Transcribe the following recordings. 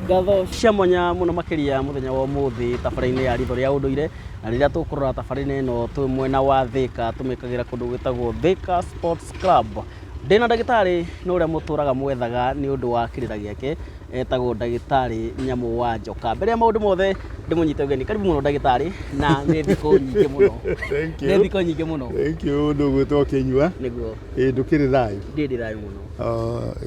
ngatho cia mwanya muno makiria muthenya wa umuthi tabara-inĩ ya ritho rĩa unduire na rĩrĩa tũkũrora tabara-inĩ ĩno twĩ mwena wa thika tũmĩkagĩra kũndũ gwĩtagwo thika sports club ndĩna ndagĩtarĩ nĩ ũrĩa mũtũraga mwethaga nĩ ũndũ wa kĩrĩra gĩake etagwo ndagĩtarĩ nyamũ wa njoka mbere ya maũndũ mothe ndĩmũnyite ũgeni karibu mũno ndagĩtarĩ na nĩ thikũ nyingĩ mũno Thank nĩ you. thikũ nyingĩ mũno Thank you ndugu tokenyua nĩguo ĩĩ ndũkĩrĩ thayũ ndĩrĩ thayũ mũno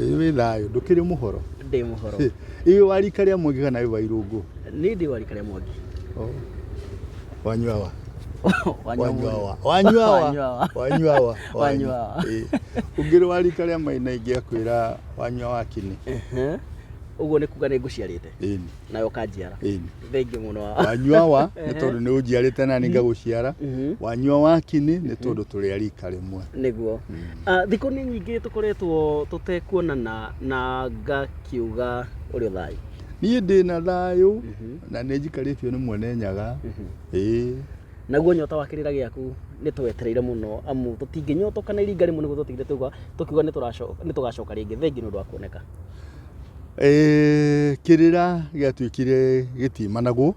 Ĩĩ wĩ thayũ ndũkĩrĩ mũhoro ndĩ mũhoro ĩĩ wa rika rĩa mwangi kana wĩ wa irũngũ nĩ ndĩ wa rika rĩa mwangi wanyua wa wanyuawa wanyuawa wanyuawa wanyuawa ũngĩrĩ wa rika rĩa maina ingĩakwĩra wanyua wa kĩnĩ ũguo nĩ kuga nĩ ngũciarĩte nawe ũkanjiara Ĩni. thengiũ mũno wanyua wa nĩ tondũ nĩ ũnjiarĩte nani ngagũciara Mhm. wanyua wa kini nĩ tondũ tũrĩa rika rĩmwe nĩguo Ah, thikũ nĩ nyingĩ tũkoretwo tũtekuonana na ngakiuga ũrĩ thayũ niĩ ndĩ na thayũ na nĩ njikarĩtio nĩ mwene nyaga ĩĩ naguo nyota wa kĩrĩra gĩaku nĩ twetereire mũno amu tũtingĩnyotoka na iringa rĩmwe nĩguo tũtigire tuga tũkiuga nĩ tũracoka- nĩ tũgacoka rĩngĩ thengi nĩ ũndũ wa kuoneka Ee, kĩrĩra gĩatuĩkire gĩtimanagwo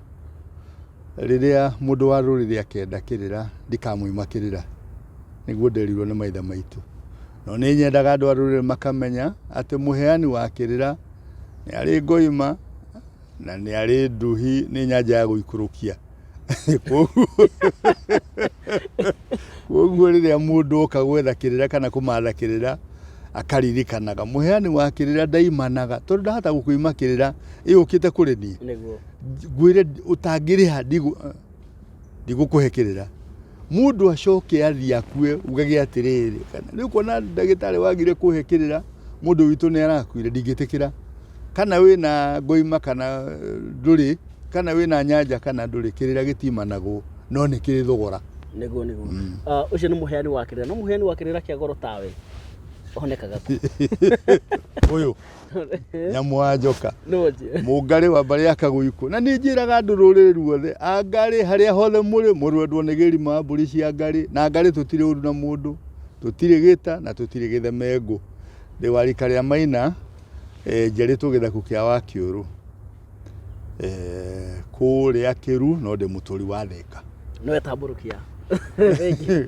rĩrĩa mũndũ wa rũrĩrĩ akenda kĩrĩra ndikamwima kĩrĩra nĩguo nderirwo nĩ maitha maitũ no nĩ nyendaga andũ a rũrĩrĩ makamenya atĩ mũheani wa kĩrĩra nĩ arĩ ngoima na nĩ arĩ nduhi nĩ nyanja ya gũikũrũkia koguo rĩrĩa mũndũ oka gwetha kĩrĩra kana kũmatha kĩrĩra akaririkanaga mũheani wa kĩrĩra ndaimanaga tondũ ndahata gũkũima kĩrĩra ĩyũkĩte kũrĩ niĩ ngwĩre ũtangĩrĩha ndigũkũhe kĩrĩra Mũndũ acoke athiĩ akue ugage atĩrĩrĩ, kana rĩu kuona ndagĩtarĩ wagire kũhe kĩrĩra mũndũ witũ nĩ arakuire ndingĩtĩkĩra. Kana wĩna ngoima kana eh, ndũrĩ, kana wĩna nyanja kana ndũrĩ, kĩrĩra gĩtimanagwo no nĩ kĩrĩ thogora. nĩguo nĩguo Mm. Ah, ũcio nĩ mũheani wa kĩrĩra no mũheani wa kĩrĩra kĩa goro tawe onekaga kũ Ũyũ nyamũ wa njoka mũngarĩ wa mbarĩ ya kagũikũ na nĩ njĩraga andũ rũrĩrĩ ruothe angarĩ harĩa hothe mũrĩ mũrwendwo nĩ gĩrima wa mbũri cia ngarĩ na ngarĩ tũtirĩ ũru na mũndũ tũtirĩ gĩta na tũtirĩ gĩthemengũ ndĩ wa rika rĩa maina e, njarĩtwo gĩthaku kĩa wa kĩũrũ eh, kũrĩa kĩru no ndĩ mũtũri wa theka nĩwe tambũrũkia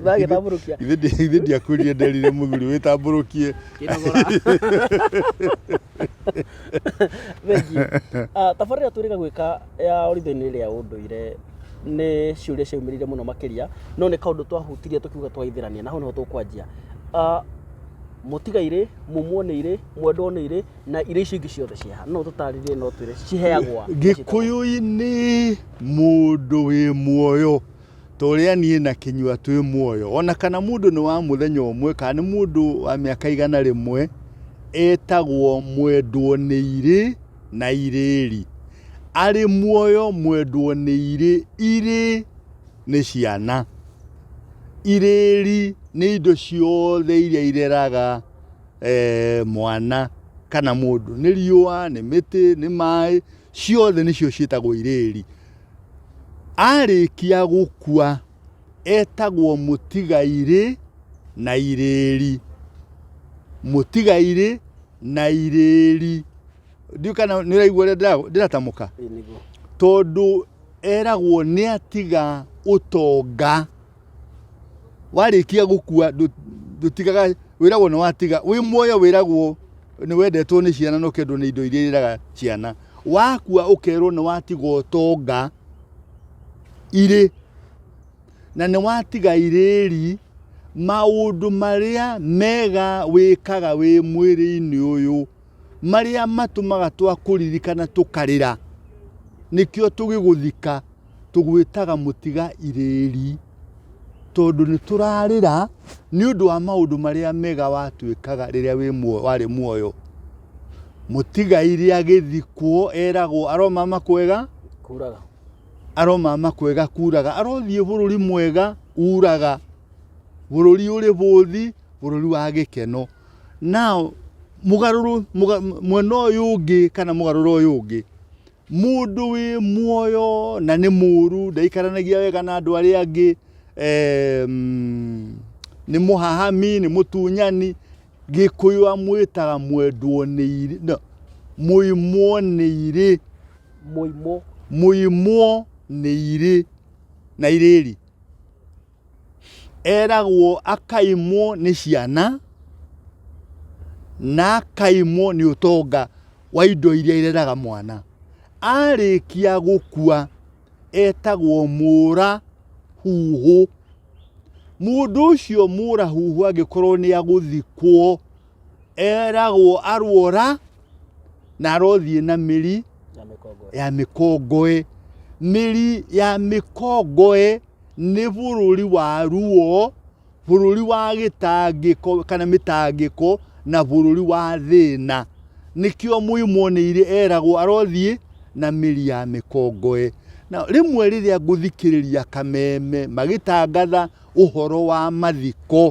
bagĩtambũrũkia ithe ndiakwĩrire nderire mũthuri wĩtambũrũkie kĩnogora thengi Ah, tabarĩra twĩrĩga gwĩka ya oritho-inĩ rĩa ũndũire nĩ ciũria ciaumĩrire mũno makĩria no nĩ kaũndũ twahutirie tũkiuga twaithĩrania na hau nĩho tũkwanjia Ah, mũtigairĩ mumuoneirĩ mwendwoneirĩ na irio icio ingĩ ciothe ciaha no tũtarĩrie no twĩre ciheagwa gĩkũyũ-inĩ mũndũ wĩ muoyo ta ũrĩa niĩ na kĩnyua twĩ muoyo ona kana mũndũ nĩ wa mũthenya ũmwe kana nĩ mũndũ wa mĩaka igana rĩmwe etagwo mwendwo nĩ irĩ na irĩri arĩ muoyo mwendwo nĩ irĩ irĩ nĩ ciana irĩri nĩ indo ciothe iria ireraga eh, mwana kana mũndũ nĩ riũa nĩ mĩtĩ nĩ maĩ ciothe nĩcio ciĩtagwo irĩri arĩkia gũkua etagwo mũtigairĩ na irĩri mũtigairĩ na irĩri ndiũ kana nĩ ũraigua ũrĩa ndĩra- ndĩratamũka Ĩĩ nĩguo. tondũ eragwo nĩ atiga ũtonga Warĩkia gũkua ndũtigaga, wĩragwo nĩ watiga, wĩ muoyo wĩragwo nĩ wendetwo nĩ ciana na ũkendwo nĩ indo iria irĩraga ciana. Wakua ũkerwo nĩ watiga ũtonga, irĩ, na nĩ watiga irĩri, maũndũ marĩa mega wĩkaga wĩ mwĩrĩ-inĩ ũyũ, marĩa matũmaga twakũririkana tũkarĩra, nĩkĩo tũgĩgũthika. tũgwĩtaga mũtiga irĩĩri, tondũ nĩ tũrarĩra nĩ ũndũ wa maũndũ marĩa mega watwĩkaga rĩrĩa wĩ muoyo warĩ muoyo. Mũtigairĩ agĩthikwo eragwo aromama kwega kuraga, aromama kwega kuraga, arothiĩ bũrũri mwega uraga, bũrũri ũrĩ bũthi, bũrũri wa gĩkeno. Now, mũgarũrũ, mwena ũyũ ũngĩ kana mũgarũrũ ũyũ ũngĩ. Mũndũ wĩ muoyo na nĩ mũũru ndaikaranagia wega na andũ arĩa angĩ, em, nĩ mũhahami, nĩ mũtunyani. Gĩkũyũ amwĩtaga mwendwo nĩ irĩ, no, mũimwo nĩ irĩ, Mũimwo. mũimwo nĩ irĩ na irĩri. Eragwo akaimwo nĩ ciana na akaimwo nĩ ũtonga wa indo iria ireraga mwana. Arĩkia gũkua etagwo mũra huhũ. Mũndũ ũcio mũra huhũ angĩkorwo nĩ agũthikwo eragwo arwora na arothiĩ na mĩri ya mĩkongoe. Mĩri ya mĩkongoe... nĩ bũrũri wa ruo, bũrũri wa gĩtangĩko kana mĩtangĩko na bũrũri wa thĩna. Nĩkĩo mũimũoneire eragwo arothiĩ na mĩri ya mĩkongoe. Na rĩmwe rĩrĩa ngũthikĩrĩria kameme magĩtangatha ũhoro wa mathiko,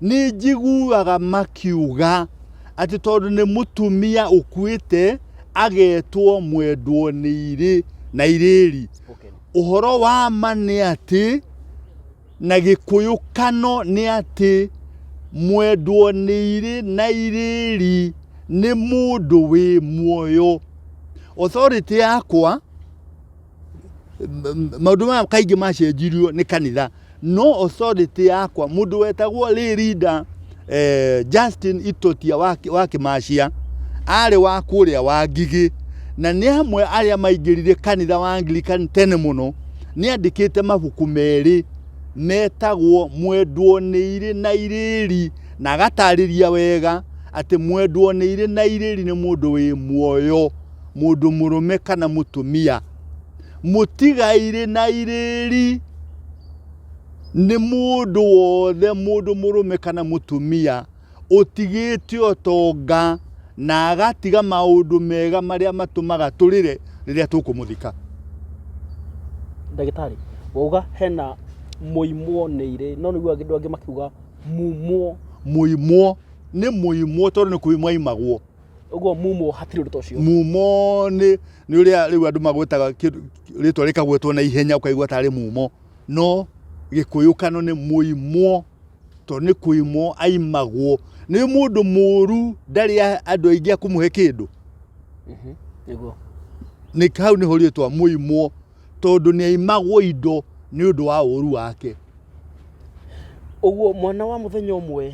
nĩ njiguaga makiuga atĩ tondũ nĩ mũtumia ũkuĩte agetwo mwendwo nĩ irĩ na irĩri Spoken. ũhoro wa ma nĩ atĩ na gĩkũyũ kano nĩ atĩ mwendwo nĩ irĩ na irĩri nĩ mũndũ wĩ muoyo authority yakwa maundu maya kaingi macenjirio ni kanitha no authority yakwa mundu wetagwo lay leader eh, Justin Itotia wa, Ki- wa Kimacia arĩ wa kũrĩa wa Ngigĩ na nĩ amwe arĩa maingĩrire kanitha wa Anglican tene mũno nĩ andĩkĩte mabuku merĩ metagwo mwendwo nĩ irĩ na irĩri na agatarĩria wega atĩ mwendwo nĩ irĩ na irĩri nĩ mũndũ wĩ muoyo mũndũ mũrũme kana mũtumia mũtigairĩ na irĩri nĩ mũndũ wothe mũndũ mũrũme kana mũtumia ũtigĩte ũtonga na agatiga maũndũ mega marĩa matũmaga tũrĩre rĩrĩa tũkũmũthika. Ndagĩtarĩ, wauga hena mũimwo nĩ irĩ no nĩguo andũ angĩ makiuga mumwo. Mũimwo nĩ mũimwo tondũ nĩ kũimwo aimagwo. Ũguo mumo hatirĩ ũndũ ta ũcio. mumo nĩ nĩ ũrĩa rĩu andũ magwĩtaga kĩndũ- rĩtwa rĩkagwetwo na ihenya ũkaigua tarĩ mumo no gĩkũyũkano nĩ mũimwo to nĩ kũimwo aimagwo nĩ mũndũ mũũru ndarĩ a- andũ aingĩ a kũmũhe kĩndũ Nĩguo. nĩ hau nĩho rĩtwa mũimwo tondũ nĩ aimagwo indo nĩ ũndũ wa ũũru wake Ũguo mwana wa mũthenya ũmwe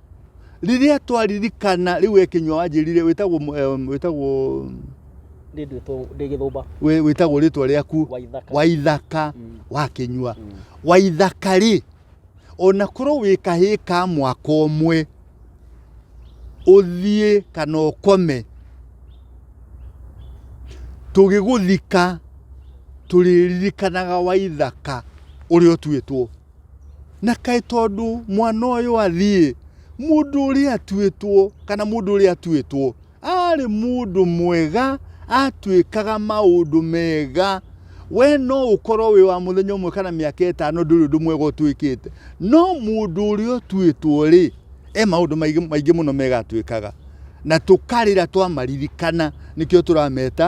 rĩrĩa twaririkana rĩu we kĩnyua wanjĩrire wĩtagwo mũ- em, wĩtagwo Ndĩ ndwĩtwo ndĩ gĩthũmba wĩ- wĩtagwo rĩtwa rĩaku wa ithaka. waithaka Mm. wa kĩnyua Mm. waithaka rĩ ona korwo wĩ kahĩĩ ka mwaka ũmwe ũthiĩ kana ũkome tũgĩgũthika tũrĩririkanaga waithaka ũrĩa ũtuĩtwo Na kaĩ tondũ mwana ũyũ athiĩ, mũndũ ũrĩa atuĩtwo, kana mũndũ ũrĩa atuĩtwo, arĩ mũndũ mwega, atuĩkaga maũndũ mega. We no ũkorwo wĩ wa mũthenya ũmwe kana mĩaka ĩtano ndũrĩ ũndũ mwega ũtuĩkĩte. No mũndũ ũrĩa ũtuĩtwo-rĩ, He maũndũ maingĩ maingĩ mũno megatwĩkaga na tũkarĩra twamaririkana, nĩkĩo tũrameta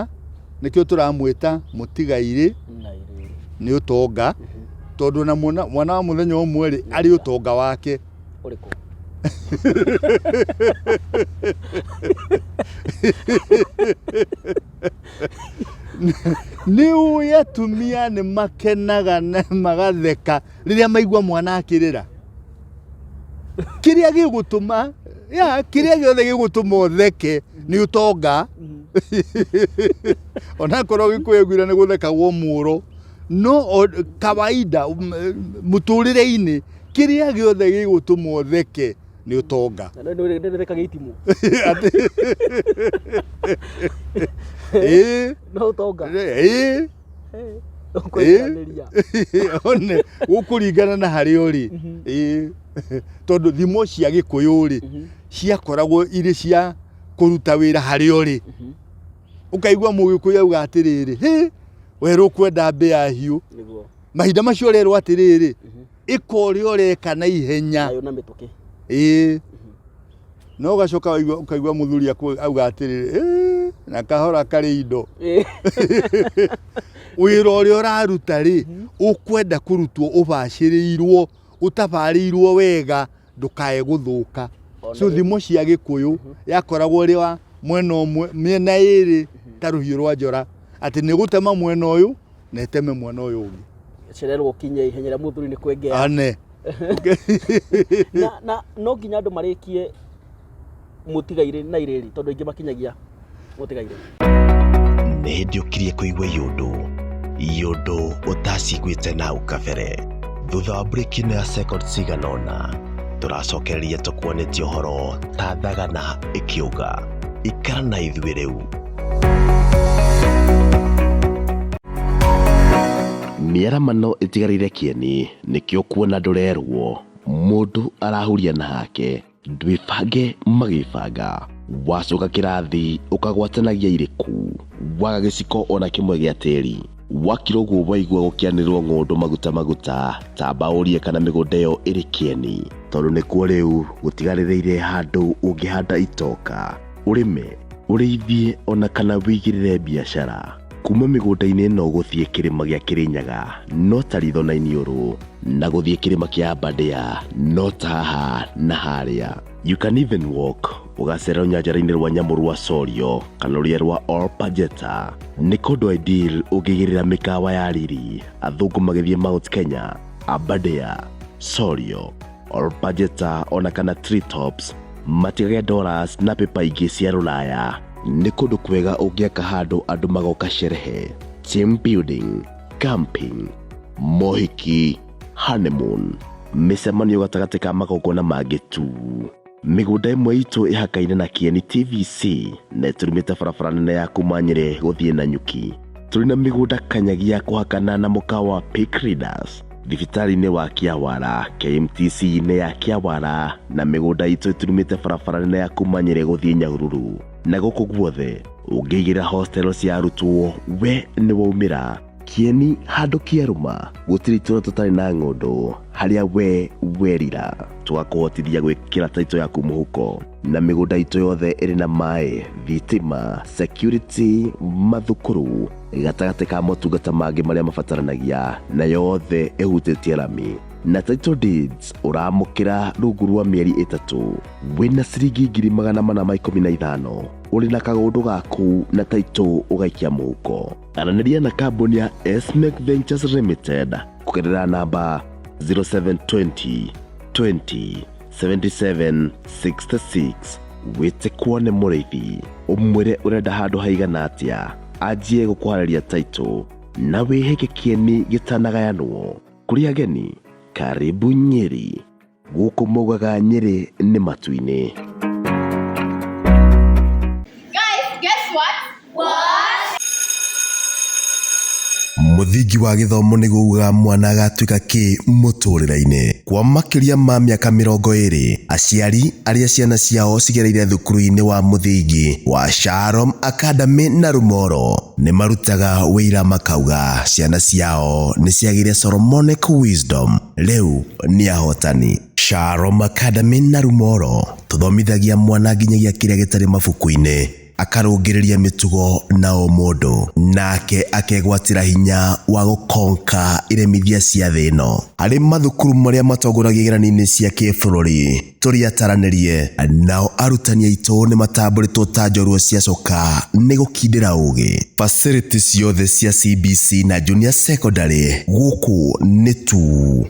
nĩkĩo tũramwĩta mũtigairĩ nĩ ũtonga, tondũ na mwana, mwana wa mũthenya ũmwe rĩ arĩ ũtonga wake ũrĩkũ nĩ ũĩ atumia nĩ makenaga na magatheka rĩrĩa maigua mwana akĩrĩra kĩrĩa gĩgũtũma ya kĩrĩa gĩothe gĩgũtũma ũtheke nĩ ũtonga onakorwo gĩkwĩgwira nĩ gũthekagwo mũũro no o- kawaida um, eh, mũtũrĩre-inĩ kĩrĩa gĩothe gĩgũtũma ũtheke nĩ ũtonga ndĩreka gĩitimũ Atĩ- Ĩĩ, no ũtonga ĩĩ. ũkwendanĩria one gũkũringana na harĩa ũrĩ Ĩĩ. tondũ thimo cia gĩkũyũ rĩ ciakoragwo irĩ cia kũruta wĩra harĩa ũrĩ ũkaigua mũgĩkũyũ auga atĩrĩrĩ "Hĩ, werũ kwenda mbĩa hiũ nĩguo mahinda macio ũrerwo atĩrĩrĩ ĩka ũrĩa ũreka na ihenya nayo na mĩtũkĩ ĩĩ no gacoka waigua ukaigua muthuri auga atiriri na kahora kari indo wira uria uraruta ri mhm. ukwenda kurutwo ubaciriirwo utabarirwo wega ndukae guthuka so thimo cia gikuyu mhm. yakoragwo ri wa mwena umwe miena iri mhm. ta ruhiu rwa njora ati ni gutema mwena uyu na ĩteme mwena ũyũ ũngĩ cererwo ũkinye ihenya rĩa mũthuri nĩ kwengea ane na, na no nginya andũ marĩkie mũtigairĩ na irĩri tondũ aingĩ makinyagia mũtigairĩ nĩ hĩndĩ ũkirie kũigua yũndũ yũndũ ũtaciguĩte na ũkabere thutha wa brĩki na ya second cigana ũna tũracokereria tũkuonĩtie ũhoro ta thagana ĩkĩũga ikara na ithuĩ rĩu mĩaramano ĩtigarĩire kĩeni nĩkĩo kuona ndũrerwo mũndũ arahuria na hake ndwĩbange magĩbanga wacoka kĩrathi ũkagwatanagia irĩkũ waga gĩciko ona kĩmwe gĩa tĩri wakirwo guo waigua gũkĩanĩrĩrwo ng'ũndũ maguta maguta tamba ũrie kana mĩgũnda ĩyo ĩrĩ kĩeni tondũ nĩkuo rĩu gũtigarĩrĩire handũ ũngĩhanda itoka ũrĩme ũrĩithie ona kana wĩigĩrĩre biacara kuma mĩgũnda-inĩ ĩno gũthiĩ kĩrĩma gĩa kĩrĩnyaga no ta ritho na iniũrũ na gũthiĩ kĩrĩma kĩa abadea no ta haha na harĩa you can even walk Gũgacĩra rũnyanjara-inĩ rwa nyamũ rwa Sorio kana rũrĩa rwa Olpajeta nĩ kũndũ Aidil ũngĩgĩrĩra mĩkawa ya riri athũngũ magĩthiĩ Mount Kenya, Aberdare, Sorio, Olpajeta ona kana Treetops matigage dollars na pepa ingĩ cia rũraya. Nĩ kũndũ kwega ũngĩaka handũ andũ magoka sherehe, team building, camping, mohiki, honeymoon, mĩcemanio gatagatĩ ka magongona mangĩ tu. mĩgũnda ĩmwe itũ ĩhakaine na kĩeni tvc na ĩtũrumĩte barabara nene ya kuma nyĩrĩ gũthiĩ na nyuki tũrĩ na mĩgũnda kanyagi ya kũhakana na mũka wa Pick Readers thibitarĩ-inĩ wa kĩawara kmtc-inĩ ya kĩawara na mĩgũnda itũ ĩturumĩte barabara nene ya kuma nyĩrĩ gũthiĩ nyahururu na gũkũ guothe ũngĩigĩra hostel cia arutwo we nĩ waumĩra Kĩeni handũ kĩarũma gũtirĩ itũra tũtarĩ na ng'ũndũ harĩa we werira twakũhotithia gwĩkĩra taito yaku mũhuko na mĩgũnda itũ yothe ĩrĩ na maĩ thitima security mathukuru gatagatĩ ka motungata mangĩ marĩa mabataranagia na yothe ĩhutĩtie rami na title deeds ũramũkĩra rungu rwa mĩeri ĩtatũ wĩna ciringi ngiri magana mana ma ikũmi na ithano ũrĩ na kagũndũ gaku na taito ũgaikia mũhuko Aranĩria na kambuni ya Esmec Ventures Limited kũgerera namba 0720 20 77 66 wĩte kuone mũrĩithi ũmwĩre ũrenda handũ haigana atĩa anjie gũkũharĩria taito na wĩhĩke kĩeni gĩtanagayanwo kũrĩ ageni karibu nyeri Gũkũ maugaga Nyĩrĩ nĩ matu-inĩ. Guys, guess what? What? Mũthingi wa gĩthomo nĩ kuuga mwana agatuĩka kĩ mũtũrĩre-inĩ. Kwa makĩria ma mĩaka mĩrongo ĩrĩ, aciari arĩa ciana ciao cigereire thukuru-inĩ wa mũthingi wa Shalom Academy na Rumoro nĩ marutaga wĩira makauga ciana ciao nĩ ciagĩire Solomonic Wisdom. Rĩu nĩ ahotani. Sharo Makadami na Rumoro tũthomithagia mwana nginyagia kĩrĩa gĩtarĩ mabuku-inĩ, akarũngĩrĩria mĩtugo na ũmũndũ, nake akegwatĩra hinya wa gũkonka iremithia cia thĩ ĩno. Harĩ mathukuru marĩa matongoragia igeranio-inĩ cia kĩbũrũri, tũrĩataranĩrie. Nao arutani aitũ nĩ matambũrĩtwo ta njorua ciacoka nĩ gũkindĩra ũgĩ. Facility ciothe cia CBC na Junior Secondary gũkũ nĩ tu.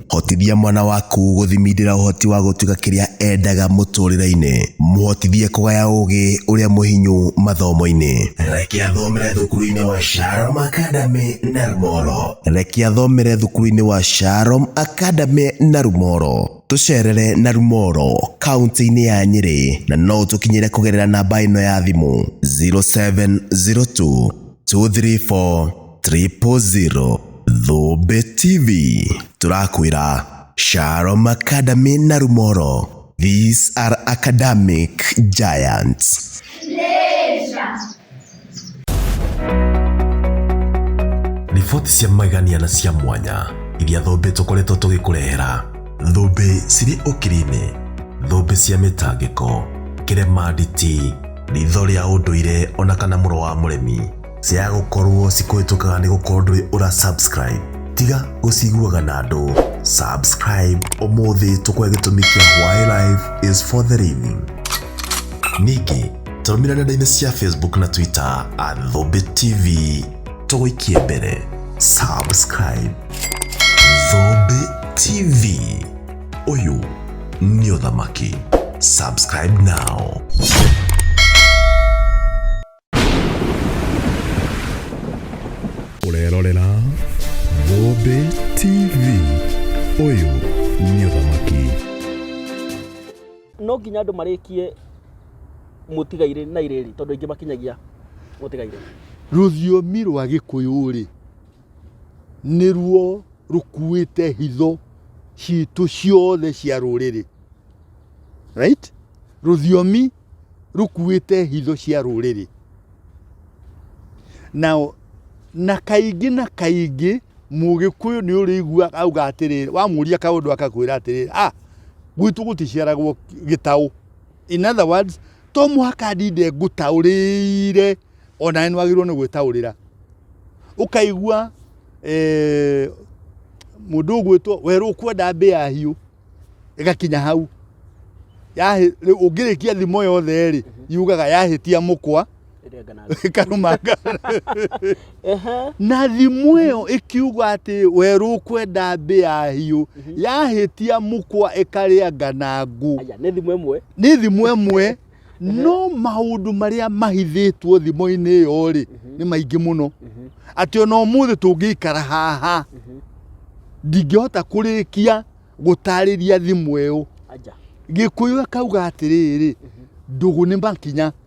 Hotithia mwana waku gũthimindĩra ũhoti wa gũtuĩka kĩrĩa endaga mũtũrĩre-inĩ. Mũhotithie kũgaya ũgĩ ũrĩa mũhinyu mathomo-inĩ. Reke athomere thukuru-inĩ wa Sharom Academy Narumoro. Reke athomere thukuru-inĩ wa Sharom Academy Narumoro. Tũcerere na Rumoro kaunti-inĩ ya Nyĩrĩ na no ũtũkinyĩre kũgerera namba ĩno ya thimũ 0702 234 000. Thũmbĩ TV tũrakwĩra Shalom Academy na Rumoro. These are academic giants. riboti cia magegania na cia mwanya iria thũmbĩ tũkoretwo tũgĩkũrehera thũmbĩ cirĩ ũkiri-inĩ thũmbĩ cia mĩtangĩko kĩrema nditi ritho rĩa ũndũire ona kana mũro wa mũremi cia gũkorwo cikũhĩtũkaga nĩ gũkorwo ndũrĩ ũra subscribe tiga gũciguaga na andũ subscribe ũmũthĩ tũkwe gĩtũmi kĩa why life is for the living ningĩ Tũrũmĩrĩre nenda-inĩ cia Facebook na Twitter at Thũmbĩ TV. Tũgũikie mbere. Subscribe. Thũmbĩ TV. Ũyũ nĩ ũthamaki. Subscribe now. Ũrerorera Thũmbĩ TV. Ũyũ nĩ ũthamaki. no nginya andå marä kie mũtigairĩ na irĩrĩ tondũ aingĩ makinyagia mũtigairĩ rũthiomi rwa gĩkũyũ-rĩ nĩruo rũkuĩte hitho citũ ciothe cia rũrĩrĩ right rũthiomi rũkuĩte hitho cia rũrĩrĩ nao na kaingĩ na kaingĩ mũgĩkũyũ nĩ ũrĩigua auga atĩrĩrĩ wamũria kaũndũ akakwĩra atĩrĩrĩ ah gwitũ gũticiaragwo gĩtaũ In other words, to mũhaka ndinde ngũtaũrĩire o nawe nĩ wagĩrĩirwo nĩ gwĩtaũrĩra ũkaigua eh, mũndũ ũgwĩtwo werwo kwenda mbĩa hiũ ĩgakinya hau Yahĩ- rĩu ũngĩrĩkia thimo yothe rĩ yugaga yahĩtia mũkwa Ĩrĩa ngana- karũmanga Ehe. na thimũ ĩyo ĩkiuga atĩ werũ kwenda mbĩa hiũ yahĩtia mũkwa ĩkarĩa nganangũ Aya, nĩ thimũ ĩmwe nĩ thimũ ĩmwe no maũndũ marĩa mahithĩtwo thimũ-inĩ ĩyo rĩ nĩ maingĩ mũno atĩ ona ũmũthĩ tũngĩikara haha ndingĩhota kũrĩkia gũtarĩria thimũ ĩyo Aya. gĩkũyũ akauga atĩrĩrĩ ndũgũ nĩ makinya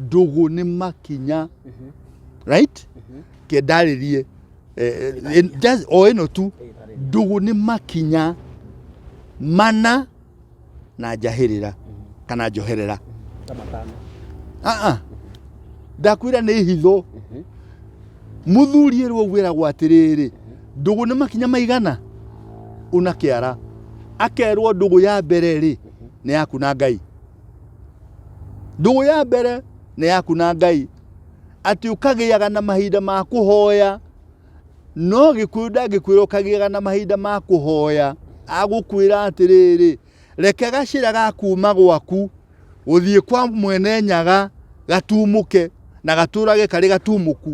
ndũgũ nĩ makinya mhm. right mhm. ke ndarĩrie eh, eh, eh, o ĩno tu ndũgũ nĩ makinya mana na njahĩrĩra mhm. kana njoherera ah, ah. ndakwĩra nĩ hitho mũthuri ĩrwo gwĩragwo atĩrĩrĩ ndũgũ nĩ makinya maigana una kĩara akerwo ndũgũ ya mbere rĩ nĩ yaku na ngai Ndũgũ ya mbere nĩ yaku na Ngai, atĩ ũkagĩaga na mahinda ma kũhoya. No gĩkuũ ndangĩkwĩra ũkagĩaga na mahinda ma kũhoya, agũkwĩra atĩrĩrĩ, reke gacĩra ga kuuma gwaku gũthiĩ kwa mwene nyaga gatumũke na gatũrage karĩ gatumũku.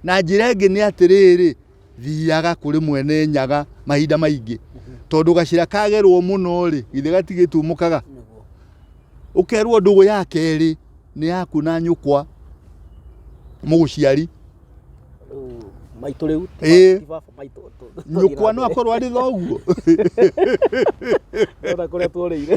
Na njĩra ĩngĩ nĩ atĩrĩrĩ, thiaga kũrĩ mwene nyaga mahinda maingĩ tondũ gacĩra kagerwo mũno rĩ githĩ gatigĩtumũkaga ũkerwo ndũgũ ya kerĩ nĩ yaku na nyũkwa mũgũciari maitå rä u Ĩĩ. nyũkwa no akorwo arĩ thoguo ona kå rä a tuorä ire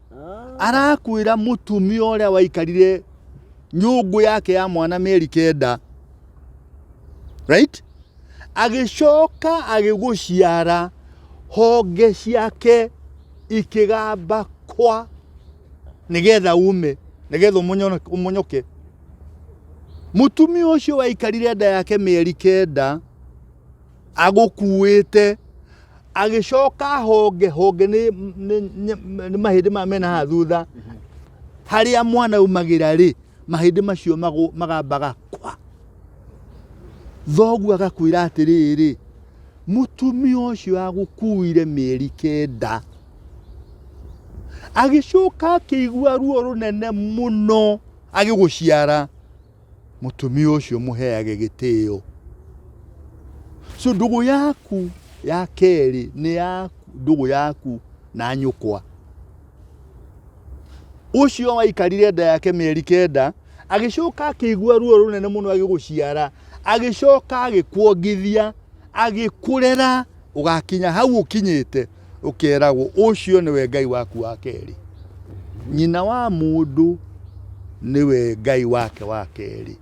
arakwĩra mũtumia ũrĩa waikarire nyũngũ yake ya mwana mĩeri kenda right agĩcoka agĩgũciara honge ciake ikĩgamba kwa nĩgetha ume nĩgetha ũmonyo- ũmonyoke mũtumia ũcio waikarire nda yake mĩeri kenda agũkuĩte agĩcoka honge honge nĩ nĩ- nĩ- nĩ mahĩndĩ maya mena haha thutha harĩa mwana umagĩra rĩ mahĩndĩ macio magũ- magambaga kwa thoguo agakwĩra atĩrĩrĩ mũtumia ũcio agũkuire mĩeri kenda agĩcoka akĩigua ruo rũnene mũno agĩgũciara Mũtumia ũcio mũheage gĩtĩo. So ndũgũ yaku ya kerĩ nĩ ya ndũgũ yaku na nyũkwa. Ũcio waikarire nda yake mĩeri kenda agĩcoka akĩigua ruo rũnene mũno agĩgũciara agĩcoka agĩkuongithia agĩkũrera Ũgaakinya hau ũkinyĩte, ũkeeragwo, 'Ũcio nĩwe Ngai waku wa kerĩ. Nyina wa mũndũ nĩwe Ngai wake wa kerĩ.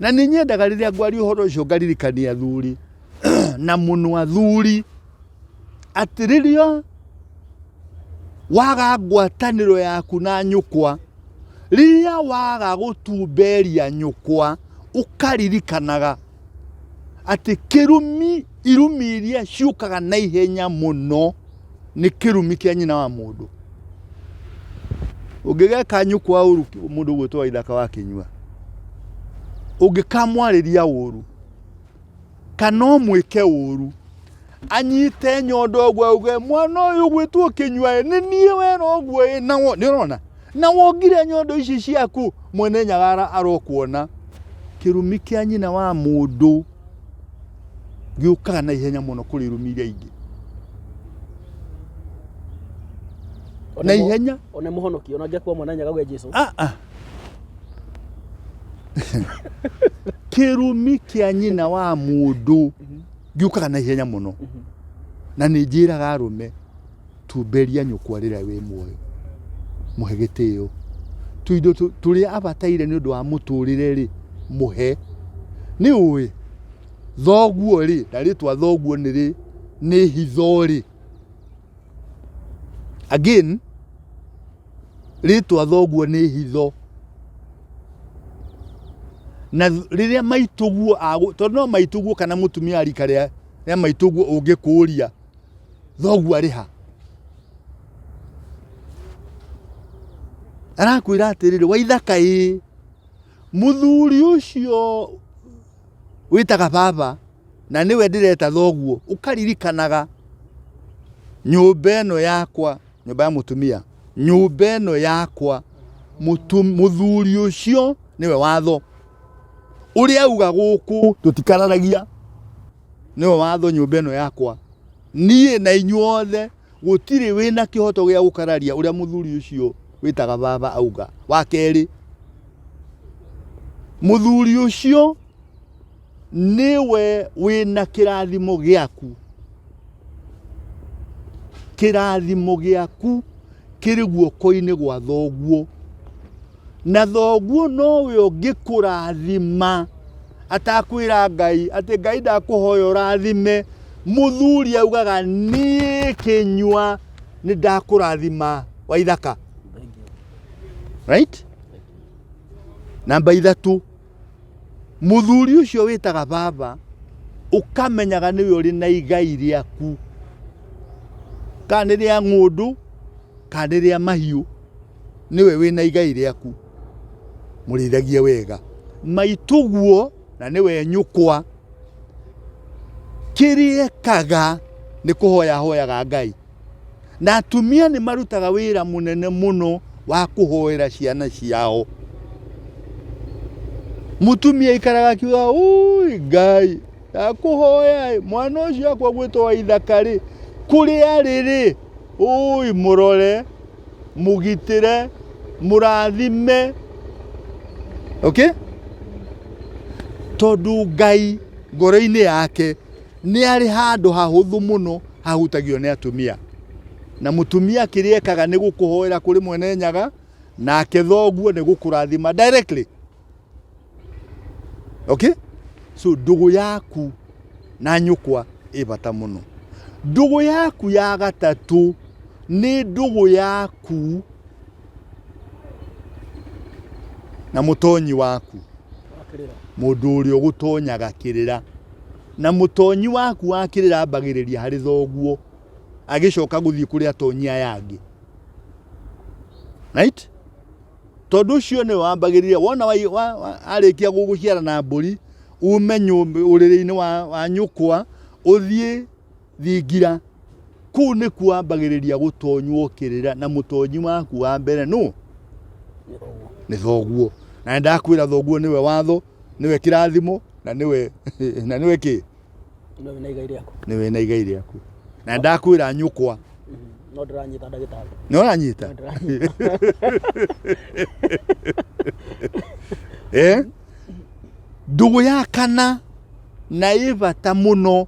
Na nĩ nyendaga rĩrĩa ngwaria ũhoro ũcio ngaririkania athuri na mũno athuri atĩ rĩrĩa Waga ngwatanĩro yaku na nyũkwa. Rĩrĩa waga gũtumberia nyũkwa, ũkaririkanaga atĩ kĩrumi, irumi iria ciũkaga na ihenya mũno nĩ kĩrumi kĩa nyina wa mũndũ. Ũngĩgeka nyũkwa ũru mũndũ ũguo to ithaka wa kĩnyua, ũngĩkamwarĩria ũru, kana ũmwĩke ũru anyite nyondo ũguo auge mwana ũyũ gwĩtwo kĩnyua ĩ, nĩ niĩ wera ũguo ĩ na wo- nĩ ũrona na wongire nyondo ici ciaku mwene nyagara arokuona kĩrumi kĩa nyina wa mũndũ gĩũkaga na ihenya mũno kũrĩ irumi iria ingĩ na ihenya One mũhonoki, ona ngĩakua mwana nyaga gwe Jesu. ah, ah. kĩrumi kĩa nyina wa mũndũ gĩũkaga na ihenya mũno na nĩ njĩraga arũme tumberia nyũkwa rĩrĩa wĩ muoyo mũhe gĩtĩo tuindo tũrĩa abataire nĩ ũndũ wa mũtũrĩre rĩ mũhe nĩ ũĩ thoguo rĩ na rĩtwa thoguo nĩ rĩ nĩ hitho rĩ Again, rĩtwa thoguo nĩ hitho. Na rĩrĩa maitũguo agũ, tondũ no maitũguo kana mũtumia rika rĩa rĩa maitũguo ũngĩkũria thoguo arĩ ha? Arakwĩra atĩrĩrĩ, Waithaka ĩĩ, mũthuri ũcio Wĩtaga baba na nĩwe ndĩreta thoguo, ũkaririkanaga nyũmba ĩno yakwa, nyũmba ya mũtumia, nyũmba ĩno yakwa, mũthuri ũcio nĩwe watho. Ũrĩa auga gũkũ tũtikararagia, nĩwe watho nyũmba ĩno yakwa. Niĩ na inyuothe. Gũtirĩ wĩ na kĩhoto gĩa gũkararia ũrĩa mũthuri ũcio wĩtaga baba auga. Wa kerĩ, mũthuri ũcio nĩwe wĩ na kĩrathimo gĩaku. Kĩrathimo gĩaku kĩrĩ guoko-inĩ gwa thoguo. na thoguo nowe ũngĩkũrathima atakwĩra ngai atĩ ngai ndakũhoya ũrathime mũthuri augaga niĩ kĩnyua nĩ ndakũrathima wa ithaka right namba ithatũ mũthuri ũcio wĩtaga baba ũkamenyaga nĩwe ũrĩ na igai rĩaku kana nĩ rĩa ng'ũndũ kana nĩ rĩa mahiũ nĩwe wĩ na igai rĩaku mũrĩithagie wega maitũguo na nĩwe nyũkwa kĩrĩa ekaga nĩ kũhoya hoyaga ngai Na atumia nĩ marutaga wĩra mũnene mũno wa kũhoera ciana ciao. Mũtumia ikaraga akiuga ui ngai ndakũhoya mwana ũcio akwa gwĩtwo wa ithakarĩ kũrĩa rĩrĩ ui mũrore mũgitĩre mũrathime okay? tondũ ngai ngoro-inĩ yake nĩ arĩ handũ hahũthũ mũno hahutagio nĩ atumia na mutumia kĩrĩa ekaga nĩ gũkũhoera kũrĩ mwene nyaga nake thoguo nĩ gũkũrathima directly okay so ndũgũ yaku na nyũkwa ĩ bata mũno ndũgũ yaku ya gatatũ nĩ ndũgũ yaku na mũtonyi waku mũndũ ũrĩa ũgũtonyaga kĩrĩra Na mũtonyi waku wa kĩrĩra ambagĩrĩria harĩ thoguo agĩcoka gũthiĩ kũrĩ atonyi aya angĩ right? tondå å cio nä wambagä wona arä kia gå gå ciara na mbå ri ume å rä rä-inä wa nyå kwa å thiä Thingira. Kũu nĩkuo ambagĩrĩria gũtonywo kĩrĩra na mũtonyi waku wa mbere nũ? Nĩ thoguo. Na nĩ ndakwĩra thoguo nĩwe watho, nĩwe kĩrathimo na nĩwe na nĩwe kĩ? Nĩwe wĩna igai rĩaku. Nĩwe wĩna igai rĩaku. Na nĩ ndakwĩra nyũkwa. Mm-hmm. No ndĩranyita ndagĩtarĩ. Nĩ ũranyita? Eh? Ndũgũ ya kana na ĩ bata mũno.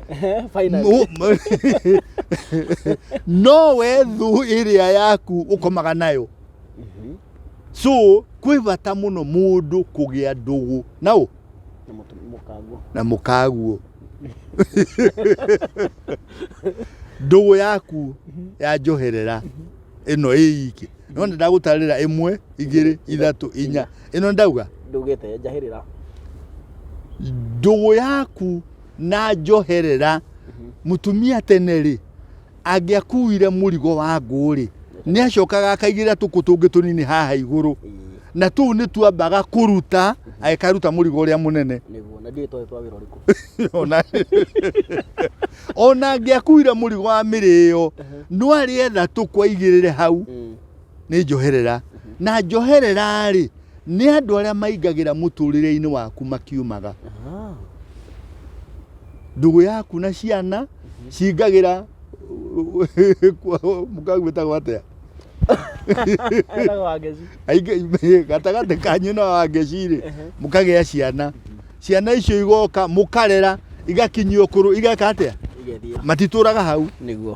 Ehe, finally. no, no we thũ ĩrĩa yaku ũkomaga nayo Mhm. so kwĩ bata mũno mũndũ kũgĩa ndũgũ na ũ Na mũtu- mũkango. na mũkaguo ndũgũ yaku ya njoherera ĩno ĩ iki no nĩ ndagũtarĩra ĩmwe igĩrĩ ithatũ inya ĩno ndauga Ndũgĩte njahĩrĩra. ndũgũ yaku na njoherera mutumia tene ri angiakuire mũrigo wa ngũrĩ nĩ acokaga akaigĩrĩra tũkũ tũngĩ tũnini haha igũrũ na tũu nĩ twambaga kũruta agĩkaruta mũrigo ũrĩa mũnene nĩguo na ndiũĩ twarĩ twa wĩra ũrĩkũ ona ona angĩakuire mũrigo wa mĩrĩo no arĩetha tũkwaigĩrĩre hau Mm. nĩ njoherera na njoherera rĩ nĩ andũ arĩa maingagĩra mũtũrĩre-inĩ waku makiumaga ndũgũ yaku na ciana cingagĩra mũkagwĩtagwo atĩa gatagatĩ kanyu na wangeci rĩ mũkagĩa ciana ciana icio igoka mukarera igakinyia ukuru igeka atia Igethiĩ. matituraga hau Nĩguo.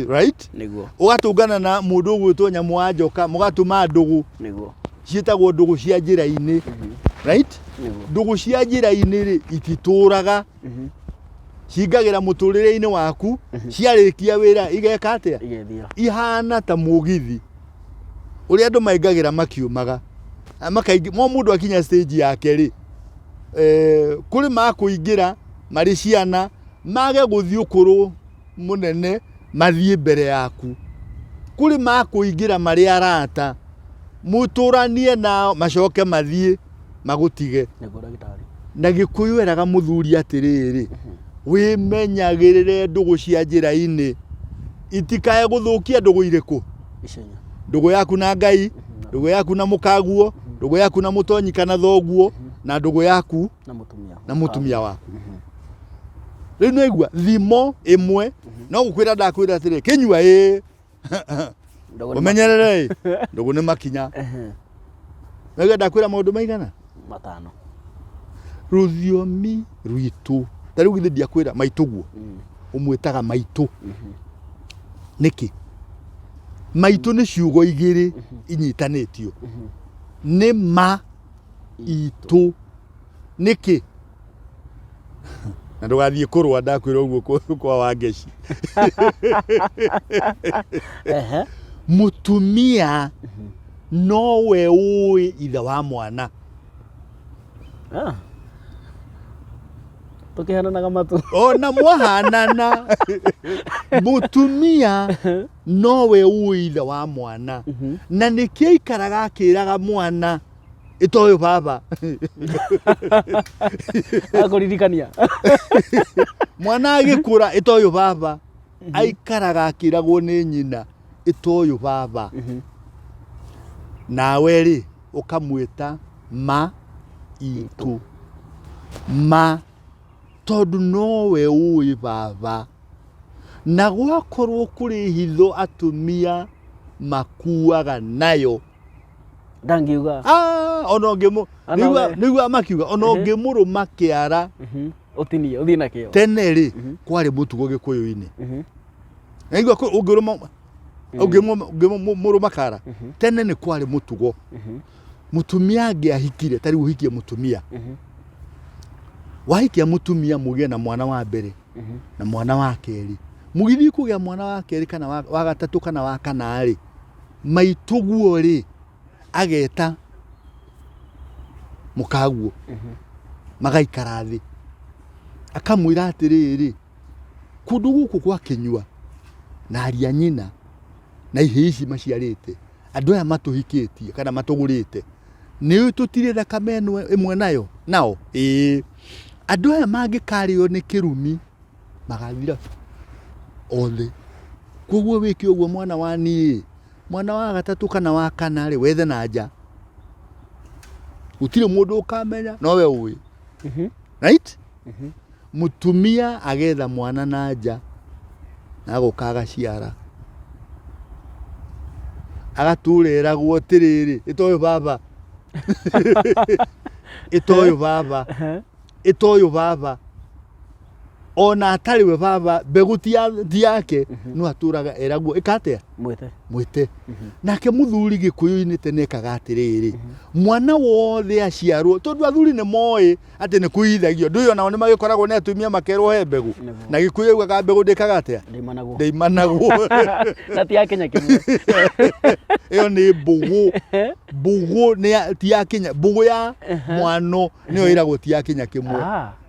right Nĩguo. ugatungana na mundu ugwitwo nyamu wa njoka mugatuma ndugu Nĩguo. ciĩtagwo ndugu cia njĩra-inĩ right Nĩguo. ndugu cia njĩra-inĩ rĩ ititũraga Mhm. cingagĩra mũtũrĩre-inĩ waku ciarĩkia wĩra igeka atia Igethiĩ. ihana ta mũgithi ũrĩa andũ maingagĩra makiumaga Ah, makaingĩ- mo mũndũ akinya stage yake rĩ eh, kũrĩ makũingĩra marĩ ciana mage gũthiĩ ũkũrũ mũnene mathiĩ mbere yaku kũrĩ makũingĩra marĩ arata mũtũranie nao macoke mathiĩ magũtige nĩguo ndagĩtarĩ na gĩkũyũ eraga mũthuri atĩrĩrĩ wĩmenyagĩrĩre ndũgũ cia njĩra-inĩ itikae gũthũkia ndũgũ irĩkũ Icenya. Ndũgũ yaku na Ngai, ndũgũ yaku na mũkaguo, ndũgũ yaku na mũtonyi kana thoguo, na ndũgũ yaku Na mũtumia. na mũtumia waku rĩu nĩ aigua thimo ĩmwe no gũkwĩra ndakwĩra atĩrĩ kĩnyua ĩ Ndũgũ nĩ ũmenyerere ĩ ndũgũ nĩ makinya Ehe. Nĩgetha kwĩra maũndũ maigana? Matano. Rũthiomi rwitũ. Ta rĩu githĩ ndiakwĩra maitũguo. Mm. Ũmwĩtaga maitũ. Mm-hmm. Nĩkĩ? Maitũ nĩ ciugo igĩrĩ mm-hmm. inyitanĩtio. Mm-hmm. Nĩ ma itũ nĩkĩ na ndũgathiĩ kũrũa ndakwĩra ũguo kũ- kwa wangeci Ehe. mũtumia nowe ũĩ ithe wa mwana Ah. tũkĩhananaga matũ ona mwahanana mũtumia nowe ũĩ ithe wa mwana na nĩkĩo aikaraga akĩraga mwana itoyo baba akuririkania mwana agikura itoyo baba aikaraga akiragwo ni nyina itoyo baba nawe ri ukamwita ma itu ma tondu nowe uwi baba na gwakorwo kuri hitho atumia makuaga nayo ndangiuga Ah, ona ũngĩmũ Ona nĩigua- we. nĩiguaga makiuga ona Ehe. ũngĩmũrũma kĩara Mhm. ũtinie ũthiĩ nakĩo tene rĩ Mhm. kwarĩ mũtugo gĩkũyũ-inĩ Mhm. naigua ũngĩrũma ũngĩmũrũma kara Mhm. tene nĩ kwarĩ mũtugo Mhm. mũtumia angĩahikire tarĩu ũhikie mũtumia Mhm. wahikia mũtumia mũgĩe na mwana wa mbere Mhm. na mwana wa kerĩ mũgithiĩ kũgĩa mwana wa kerĩ kana wa wa gatatũ kana wa kana rĩ Maitũguo rĩ, ageta mũkaguo, mhm. magaikara thĩ. Akamwĩra atĩrĩrĩ, kũndũ gũkũ gwa kĩnyua na aria nyina na ihĩ ici maciarĩte andå aya matåhikĩtie kana matågå nä å tå tirä thakame ä mwe nayo nao ä andå aya mangä karä o nä kä rumi magathira othe. Koguo wĩke ũguo mwana wa niĩ, mwana wa gatatũ kana wa kana rĩ, wethe na nja. Gũtirĩ mũndũ ũkamenya, no we ũĩ. Mhm. Right? Mhm. Mũtumia agetha mwana na nja, na agoka agaciara. Agatũra eragwo atĩrĩrĩ, ĩta ũyũ baba. Ĩta ũyũ baba. Ĩta ũyũ baba. ona atarĩ we baba mbegũ ti ya- ti yake no atũraga eragwo ĩka atĩa mwĩte mwĩte nake mũthuri gĩkũyũ-inĩ tene ekaga atĩrĩrĩ mwana wothe aciarwo tondũ athuri nĩ moĩ atĩ nĩ kũithagio ndũĩ onao nĩ magĩkoragwo nĩ atumia makerwo he mbegũ Nĩguo. na gĩkũyũ augaga mbegũ ndĩkaga atĩa ndaimanagwo ndaimanagwo na ti ya kenya kĩmwe ĩyo nĩ mbũgũ mbũgũ nĩ ya- ti ya kinya mbũgũ ya mwano nĩyo ĩragwo ti ya kinya kĩmwe Ah.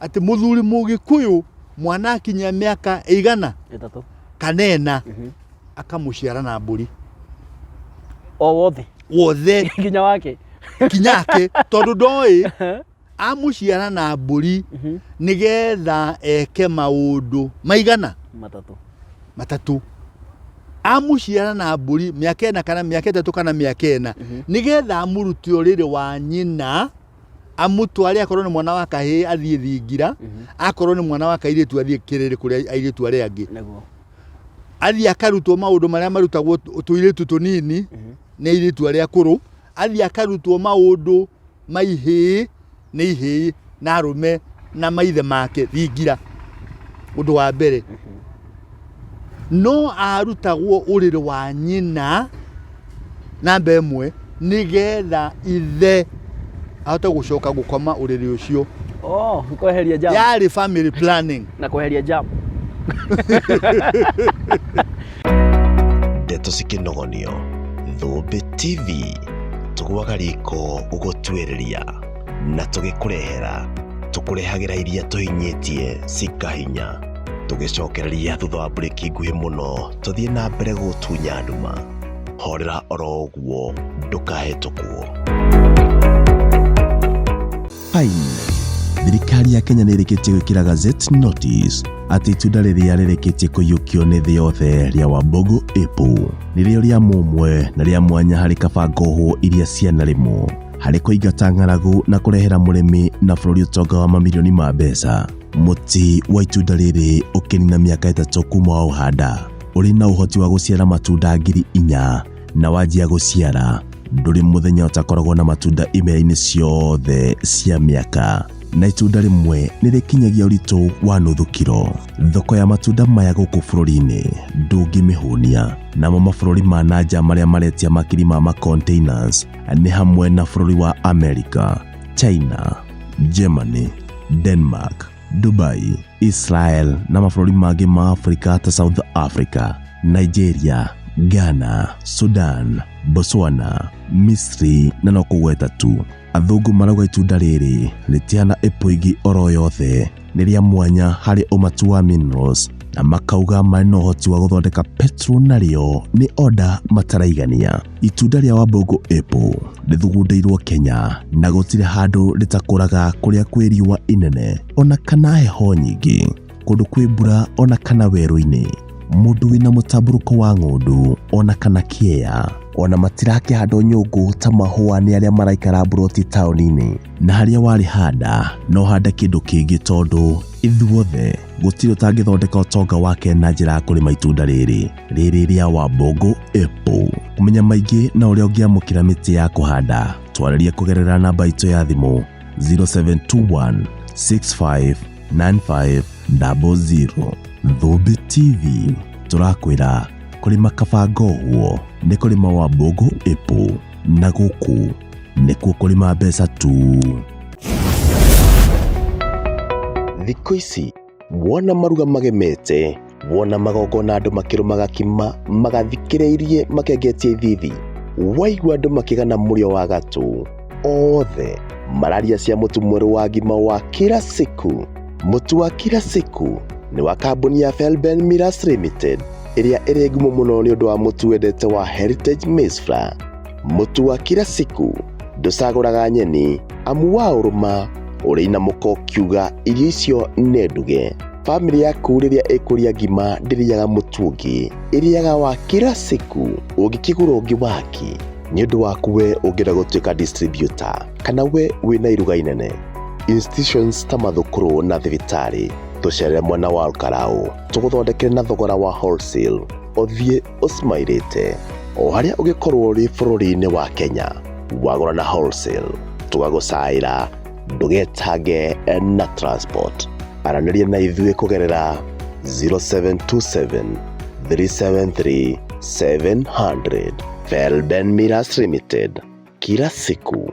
atĩ mũthuri mũgĩkũyũ mwana akinyia mĩaka ĩigana Ĩtatũ. kana ĩna Mhm. akamũciara na mbũri O wothe. wothe Nginya wake. kinyake tondũ ndoĩ amũciara na mbũri Mhm. nĩgetha eke maũndũ maigana Matatũ. matatũ amũciara na mbũri mĩaka ĩna kana mĩaka ĩtatũ kana mĩaka ĩna nĩgetha amũrute ũrĩrĩ wa nyina amũtware akorwo nĩ mwana wa kahĩĩ athiĩ thingira mhm. akorwo nĩ mwana wa kairĩtu athiĩ kĩrĩrĩ kũrĩa airĩtu arĩa angĩ athiĩ akarutwo maũndũ marĩa marutagwo tũirĩtu tũnini mhm. nĩ airĩtu arĩa akũrũ athiĩ akarutwo maũndũ ma ihĩĩ nĩ ihĩĩ na arũme na maithe make thingira ũndũ wa mbere mhm. no aarutagwo ũrĩrĩ wa nyina namba ĩmwe nĩgetha ithe ahote gũcoka gũkoma ũrĩrĩ ũcio oh, kweheria jam yarĩ family planning na kweheria jam ndeto cikĩnogonio thũmbĩ tv tũgwaga riko gũgũtuĩrĩria na tũgĩkũrehera tũkũrehagĩra iria tũhinyĩtie cikahinya tũgĩcokereria thutha wa mburĩki nguhĩ mũno tũthiĩ na mbere gũtunya nduma horera oro ũguo ndũkahĩtũkwo Fine. Thirikari ya Kenya nĩ ĩrĩkĩtie gwĩkĩra Gazette Notice atĩ itunda rĩrĩa rĩrĩkĩtie kũiyũkio nĩ thĩ yothe rĩa Wambogo Apple nĩrĩo rĩa mũmwe na rĩa mwanya harĩ kabango hũ iria cianarĩmwo harĩ kũingata ng'aragu na kũrehera mũrĩmi na bũrũri ũtonga wa mamirioni ma mbeca. Mũtĩ wa itunda rĩrĩ ũkĩnina mĩaka ĩtatũ kuma wa ũhanda, ũrĩ na ũhoti wa gũciara matunda ngiri inya, na wanjia gũciara ndũrĩ mũthenya ũtakoragwo na matunda imera-inĩ ciothe cia mĩaka na itunda rĩmwe nĩ rĩkinyagia ũritũ wa nuthu kiro. Thoko ya matunda maya gũkũ bũrũri-inĩ ndũngĩmĩhũnia. Namo mabũrũri ma nanja marĩa maretia makiri ma macontainers nĩ hamwe na bũrũri wa America, China, Germany, Denmark, Dubai, Israel na mabũrũri mangĩ ma Afrika ta South Africa, Nigeria, Ghana, Sudan, Botswana, Misri na no kũgweta tu. Athũngũ marauga itunda rĩrĩ rĩtihana ĩpũ ĩngĩ oro yothe. nĩ rĩa mwanya harĩ ũmatu wa minerals na makauga marĩ na ũhoti wa gũthondeka petro narĩo nĩ oda mataraigania. Itunda rĩa wambũngũ apple rĩthugundĩirwo Kenya na gũtirĩ handũ rĩtakũraga kũrĩa kwĩ riũa inene ona kana heho nyingĩ, kũndũ kwĩ mbura ona kana werũ-inĩ, mũndũ wĩna mũtambũrũko wa ng'ũndũ ona kana kĩea. Ona matirakĩhandwo nyũngũ ta mahũa nĩ arĩa maraikara mburoti taũni-inĩ. na harĩa warĩ handa no hande kĩndũ kĩngĩ tondũ ithuothe gũtirĩ ũtangĩthondeka ũtonga wake na njĩra ya kũrĩma itunda rĩrĩ rĩrĩ rĩa wambũngũ apple kũmenya maingĩ na ũrĩa ũngĩamũkĩra mĩtĩ ya kũhanda twarĩrie kũgerera namba itũ ya thimũ 0721 65 95 00 thũmbĩ tv tũrakwĩra kũrĩma kabangoguo nĩ kũrĩma wambũngũ apple na gũkũ nĩkuo kũrĩma mbeca tu. Thikũ ici wona maruga magemete wona magongona andũ makĩrũmaga kima magathikĩrĩirie makengetie ithithi waigua andũ makĩgana mũrĩo wa gatũ othe mararia cia mũtu mwerũ wa ngima wa kĩra siku Mũtu wa Kira Siku nĩ wa kambuni ya Felben Millers Limited ĩrĩa ĩrĩ ngumo mũno nĩ ũndũ wa mũtu wendete wa Heritage Maize Flour. Mũtu wa Kira Siku ndũcagũraga nyeni amu wa ũrũma ũrĩ na mũko kiuga irio icio nĩ nduge. Famĩlĩ yaku rĩrĩa ĩkũrĩa ngima ndĩrĩaga mũtu ũngĩ, ĩrĩaga wa Kira Siku ũngĩkĩgũra ũngĩ waki nĩ ũndũ waku we ũngĩenda gũtuĩka distributor kana we wĩna iruga inene. institutions ta mathukuru na thibitarĩ tũcerere mwena wa Karau tũgũthondekere na thogora wa wholesale ũthiĩ ũsmairĩte o harĩa ũgĩkorwo ũrĩ bũrũri-inĩ wa Kenya wagũra na wholesale tũgagũcaĩra ndũgetange na transport aranĩria na ithuĩ kũgerera 0727 373 700 Felben Miras Limited kila siku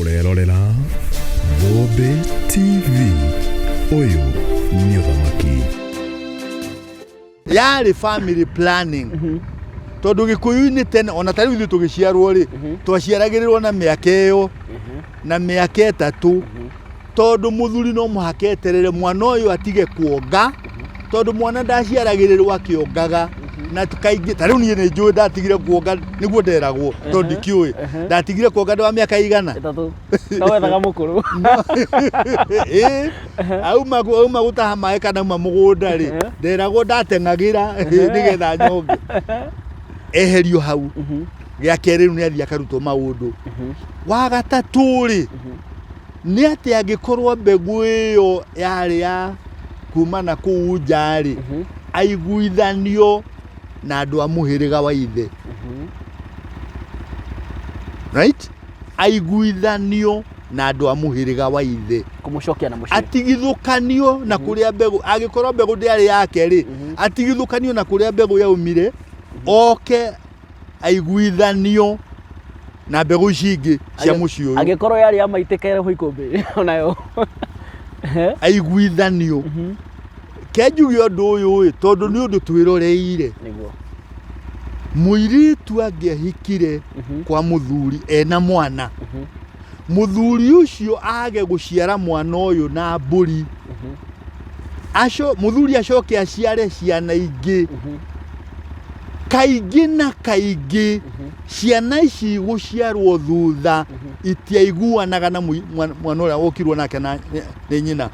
urerorera Bobe TV uyu ni uthamaki yarĩ family planning tondũ gĩkũyũ-inĩ tene ona tarĩu ithuĩ tũgĩciarwo rĩ twaciaragĩrĩrwo na mĩaka ĩyo na mĩaka ĩtatũ tondũ mũthuri no mũhaka eterere mwana ũyũ atige kuonga tondũ mwana ndaciaragĩrĩrwo akĩongaga na kaingĩ ta rĩu niĩ nĩ njũĩ ndatigire kuonga nĩguo nderagwo to ndikĩũĩ ndatigire kuonga ndĩ wa mĩaka igana auma auma gũtaha maĩ kana auma mũgũnda rĩ nderagwo ndateng'agĩra nĩgetha nyonge eherio hau mhm. gĩa kerĩ rĩu nĩ athiĩ akarutwo maũndũ mhm. wa gatatũ rĩ mhm. nĩ atĩ angĩkorwo mbegũ ĩyo yarĩ ya kuma na kũu nja-rĩ Mhm, aiguithanio na andũ a mũhĩrĩga wa ithe mhm. right aiguithanio na andũ a mũhĩrĩga wa ithe kũmũcokia na mũciĩ atigithũkanio na kũrĩa mbegũ angĩkorwo mbegũ ndĩarĩ yake rĩ Mhm. atigithũkanio na kũrĩa mbegũ yaumire oke aiguithanio na mbegũ ici ingĩ cia mũciĩ ũyũ angĩkorwo yarĩ ya maitĩkere ho ikũmbĩ onayo aiguithanio kenjuge ũndũ ũyũ ĩ tondũ nĩ ũndũ twĩroreire nĩguo mũirĩtu angĩahikire kwa mũthuri ena mwana mũthuri ũcio age gũciara mwana ũyũ na mbũri aco mũthuri acoke aciare ciana ingĩ kaingĩ na kaingĩ mhm. ciana ici gũciarwo thutha mhm. itiaiguanaga na mwana ũrĩa ũkirwo nake nĩ nyina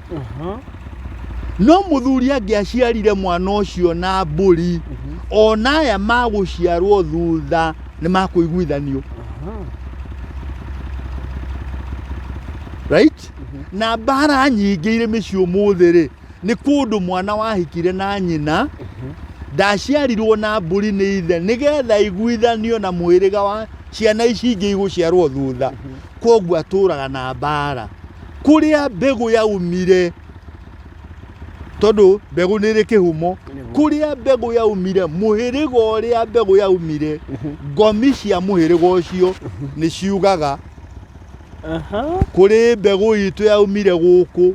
no mũthuri angĩaciarire mwana ũcio na mbũri mhm. ona aya magũciarwo thutha nĩ makũiguithanio right na mbara nyingĩ irĩ mĩciĩ ũmũthĩ rĩ nĩ kũndũ mwana wahikire na nyina ndaciarirwo na mbũri nĩ ithe nĩgetha iguithanio na mwĩrĩga wa ciana ici ingĩ igũciarwo thutha koguo atũraga na mbara kũrĩa mbegũ yaumire tondũ mbegũ nĩ ĩrĩ kĩhumo kũrĩa mbegũ yaumire mũhĩrĩga ũrĩa mbegũ yaumire ngomi cia mũhĩrĩga ũcio nĩ ciugaga Aha. kũrĩ mbegũ itũ yaumire gũkũ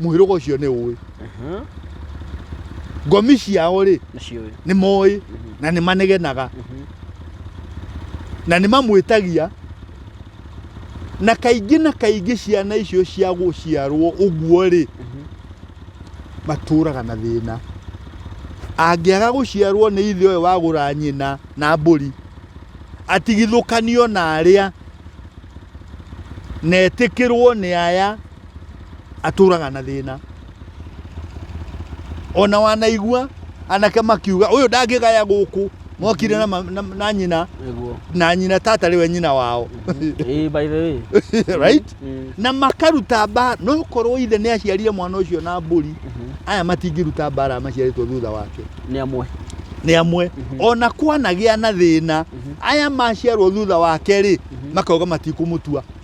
mũhĩrũga ũcio nĩ ũĩ Mhm. ngomi ciao rĩ Nacio ĩ. nĩ moĩ Mhm. na nĩ manegenaga Mhm. na nĩ mamwĩtagia na kaingĩ na kaingĩ ciana icio cia gũciarwo ũguo rĩ Mhm. matũraga na thĩna angĩaga gũciarwo nĩ ithe ũyũ wagũra nyina na mbũri atigithũkanio na arĩa na etĩkĩrwo nĩ aya atũraga na thĩna ona wanaigua anake makiuga ũyũ ndangĩgaya gũkũ mokire na, ma- na, na nyina Nĩguo. na nyina tata rĩwe nyina wao Eh, by the way. right Mm. na makaruta mbara no korwo ithe nä aciarire mwana å cio na mbåri Mhm. aya matingä ruta mbara maciarĩtwo thutha wake Nĩ amwe. nä amwe Mhm. ona kwanagä a na thä na Mhm. aya maciarwo thutha wake rä Mhm. makauga matikå må tua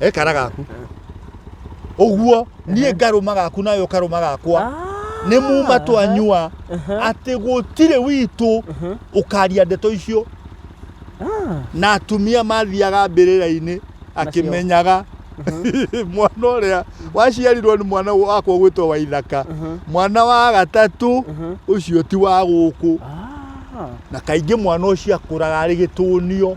ekara gaku ũguo niĩ ngarũma gaku nawe ũkarũma gakwa Ah. nĩ muma twanyua Aha. atĩ gũtirĩ witũ Aha. ũkaria ndeto icio Ah. na atumia mathiaga mbĩrĩra-inĩ akĩmenyaga mwana ũrĩa waciarirwo nĩ mwana wakwa gwĩtwo wa ithaka Aha. mwana wa gatatũ Aha. ũcio ti wa gũkũ Ah. na kaingĩ mwana ũcio akũraga arĩ gĩtũnio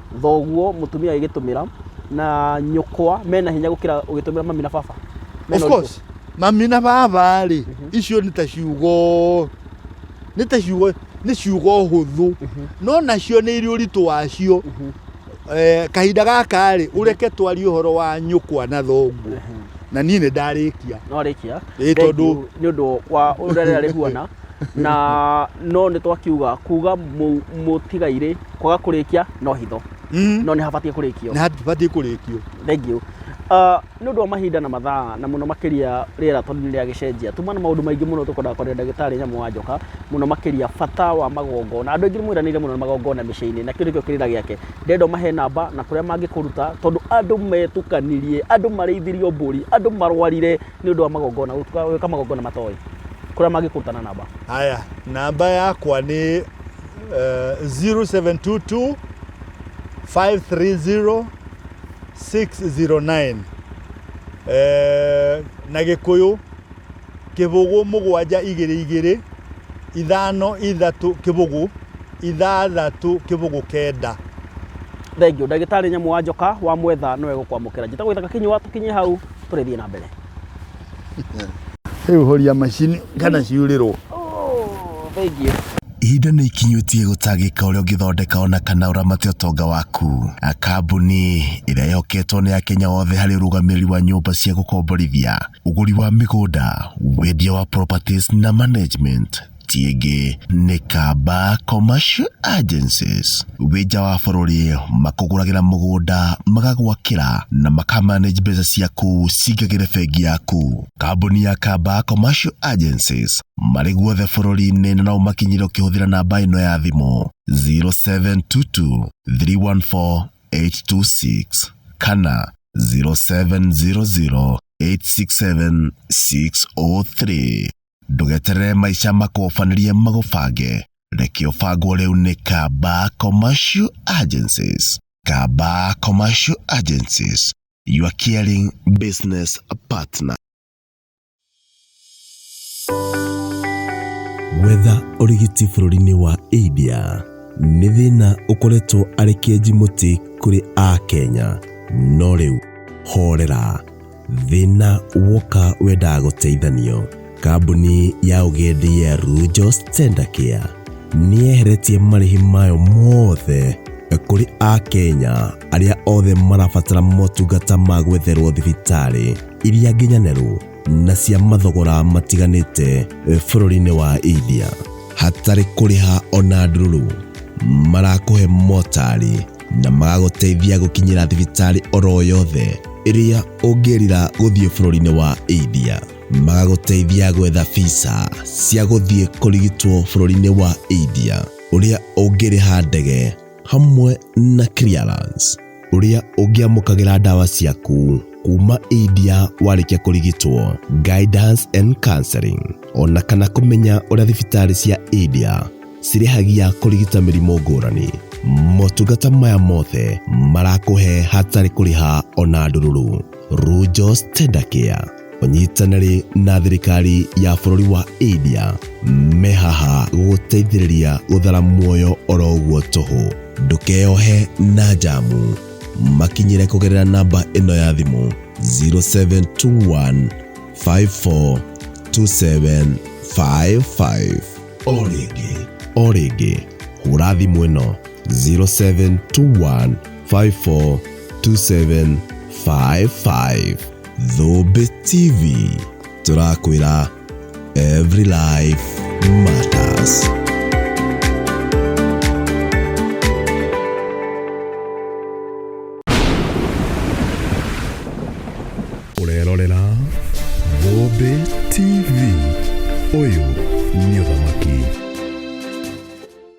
thoguo mutumia agigitumira na nyukwa mena hinya gukira ugitumira mami na baba Mena of ũritũ. course mami na baba rĩ icio nĩ ta ciugo nĩ ta ciugo nĩ ciugo hũthũ no nacio nĩ irĩ ũritũ wacio Eh, kahinda gaka rĩ ũreke twarie ũhoro wa nyũkwa na thonguo na niĩ nĩ ndarĩkia no arikia Ĩĩ, tondũ- nä å ndå wa å rä a rä huana na no nĩ twakiuga kuga mũ- mũtigairĩ kwaga kũrĩkia no hitho Mm. no nĩ habatiĩ kũrĩkio na ndibatiĩ kũrĩkio thengiũ nĩ ũndũ wa mahinda na mathaa na mũno makĩria rĩera tondũ nĩ rĩagĩcenjia tuma na maũndũ maingĩ mũno tũkwendaga kwaria na ndagĩtarĩ nyamũ wa njoka mũno makĩria bata wa magongona andũ aingĩ nĩ mwĩranĩire mũno na magongona mĩciĩ-inĩ na kĩu nĩkĩo kĩrĩra gĩake ndendo mahe namba na kũrĩa mangĩkũruta tondũ andũ metukanirie andũ marĩithirio mbũri andũ marwarire nĩ ũndũ wa magongona gũtuka- gwĩka magongona matoĩ kũrĩa mangĩkũruta na namba haya namba yakwa nĩ uh, 0722 530 609 Eh, na gĩkũyũ kĩbũgũ mũgwanja igĩrĩ igĩrĩ ithano ithatũ kĩbũgũ ithathatũ kĩbũgũ kenda thengio ndagĩtarĩ nyamũ wa njoka wa mwetha nĩwe gũkwamũkĩra njĩtagwo ithaka kĩnyua tũkinye hau tũrĩthiĩ na mbere rĩu horia macini kana ciurĩrwo oh, thengiũ ihinda nĩ ikinyũtie gũtangĩka ũrĩa ũngĩthondeka ona kana ũramate ũtonga waku kambuni ĩrĩa yoketwo nĩ ya kenya wothe harĩ ũrũgamĩrĩri wa nyũmba cia gũkomborithia ũgũri wa mĩgũnda wendia wa properties na management Ciĩngĩ nĩ Kamba Commercial Agencies. Wĩ nja wa bũrũri makũgũragĩra mũgũnda magagwakĩra na makamanage mbeca ciaku cingagĩre bengi yaku. Kambuni ya Kamba Commercial Agencies marĩ guothe bũrũri-inĩ na no ũmakinyĩre ũkĩhũthĩra namba ĩno ya thimũ 0722 314 826 kana 0700 867 603. Ndũgeterere maica makũbanĩrie magũbange. Reke ũbangwo rĩu nĩ Kamba Commercial Agencies. Kamba Commercial Agencies, your caring business partner. Gwetha ũrigiti bũrũri-inĩ wa India nĩ thĩna ũkoretwo arĩ kĩenji mũtĩ kũrĩ Akenya, no rĩu horera. Thĩna woka wendaga gũteithanio, kambuni ya ũgendi ya Rujos Tender Care nĩyeheretie marĩhi mayo mothe kũrĩ Akenya arĩa othe marabatara motungata ma gwetherwo thibitarĩ iria nginyanĩru na cia mathogora matiganĩte bũrũri-inĩ wa India hatarĩ kũrĩha ona ndururu. Marakũhe motari na magagũteithia gũkinyĩra thibitarĩ oro yothe ĩrĩa ũngĩrira gũthiĩ bũrũri-inĩ wa India. Magagũteithia gwetha visa cia gũthiĩ kũrigitwo bũrũri-inĩ wa India ũrĩa ũngĩrĩha ndege hamwe na clearance ũrĩa ũngĩamũkagĩra ndawa ciaku kuma India warĩkia kũrigitwo, guidance and counseling, ona kana kũmenya ũrĩa thibitarĩ cia India cirĩhagia kũrigita mĩrimũ ngũrani motungata maya mothe marakũhe hatarĩ kũrĩha ona ndũrũrũ runjos tendakia ũnyitanĩri na thirikari ya bũrũri wa india mehaha gũteithĩrĩria gũthara muoyo oro ũguo tũhũ ndũkeyohe na njamu makinyĩre kũgerera namba ĩno ya thimũ 0721 542755 o rĩngĩ o rĩngĩ hũra thimũ ĩno 0721542755 thũmbĩ tv tũrakwĩra every life matters Ũrerorera Thũmbĩ TV. Ũyũ nĩ ũthamaki.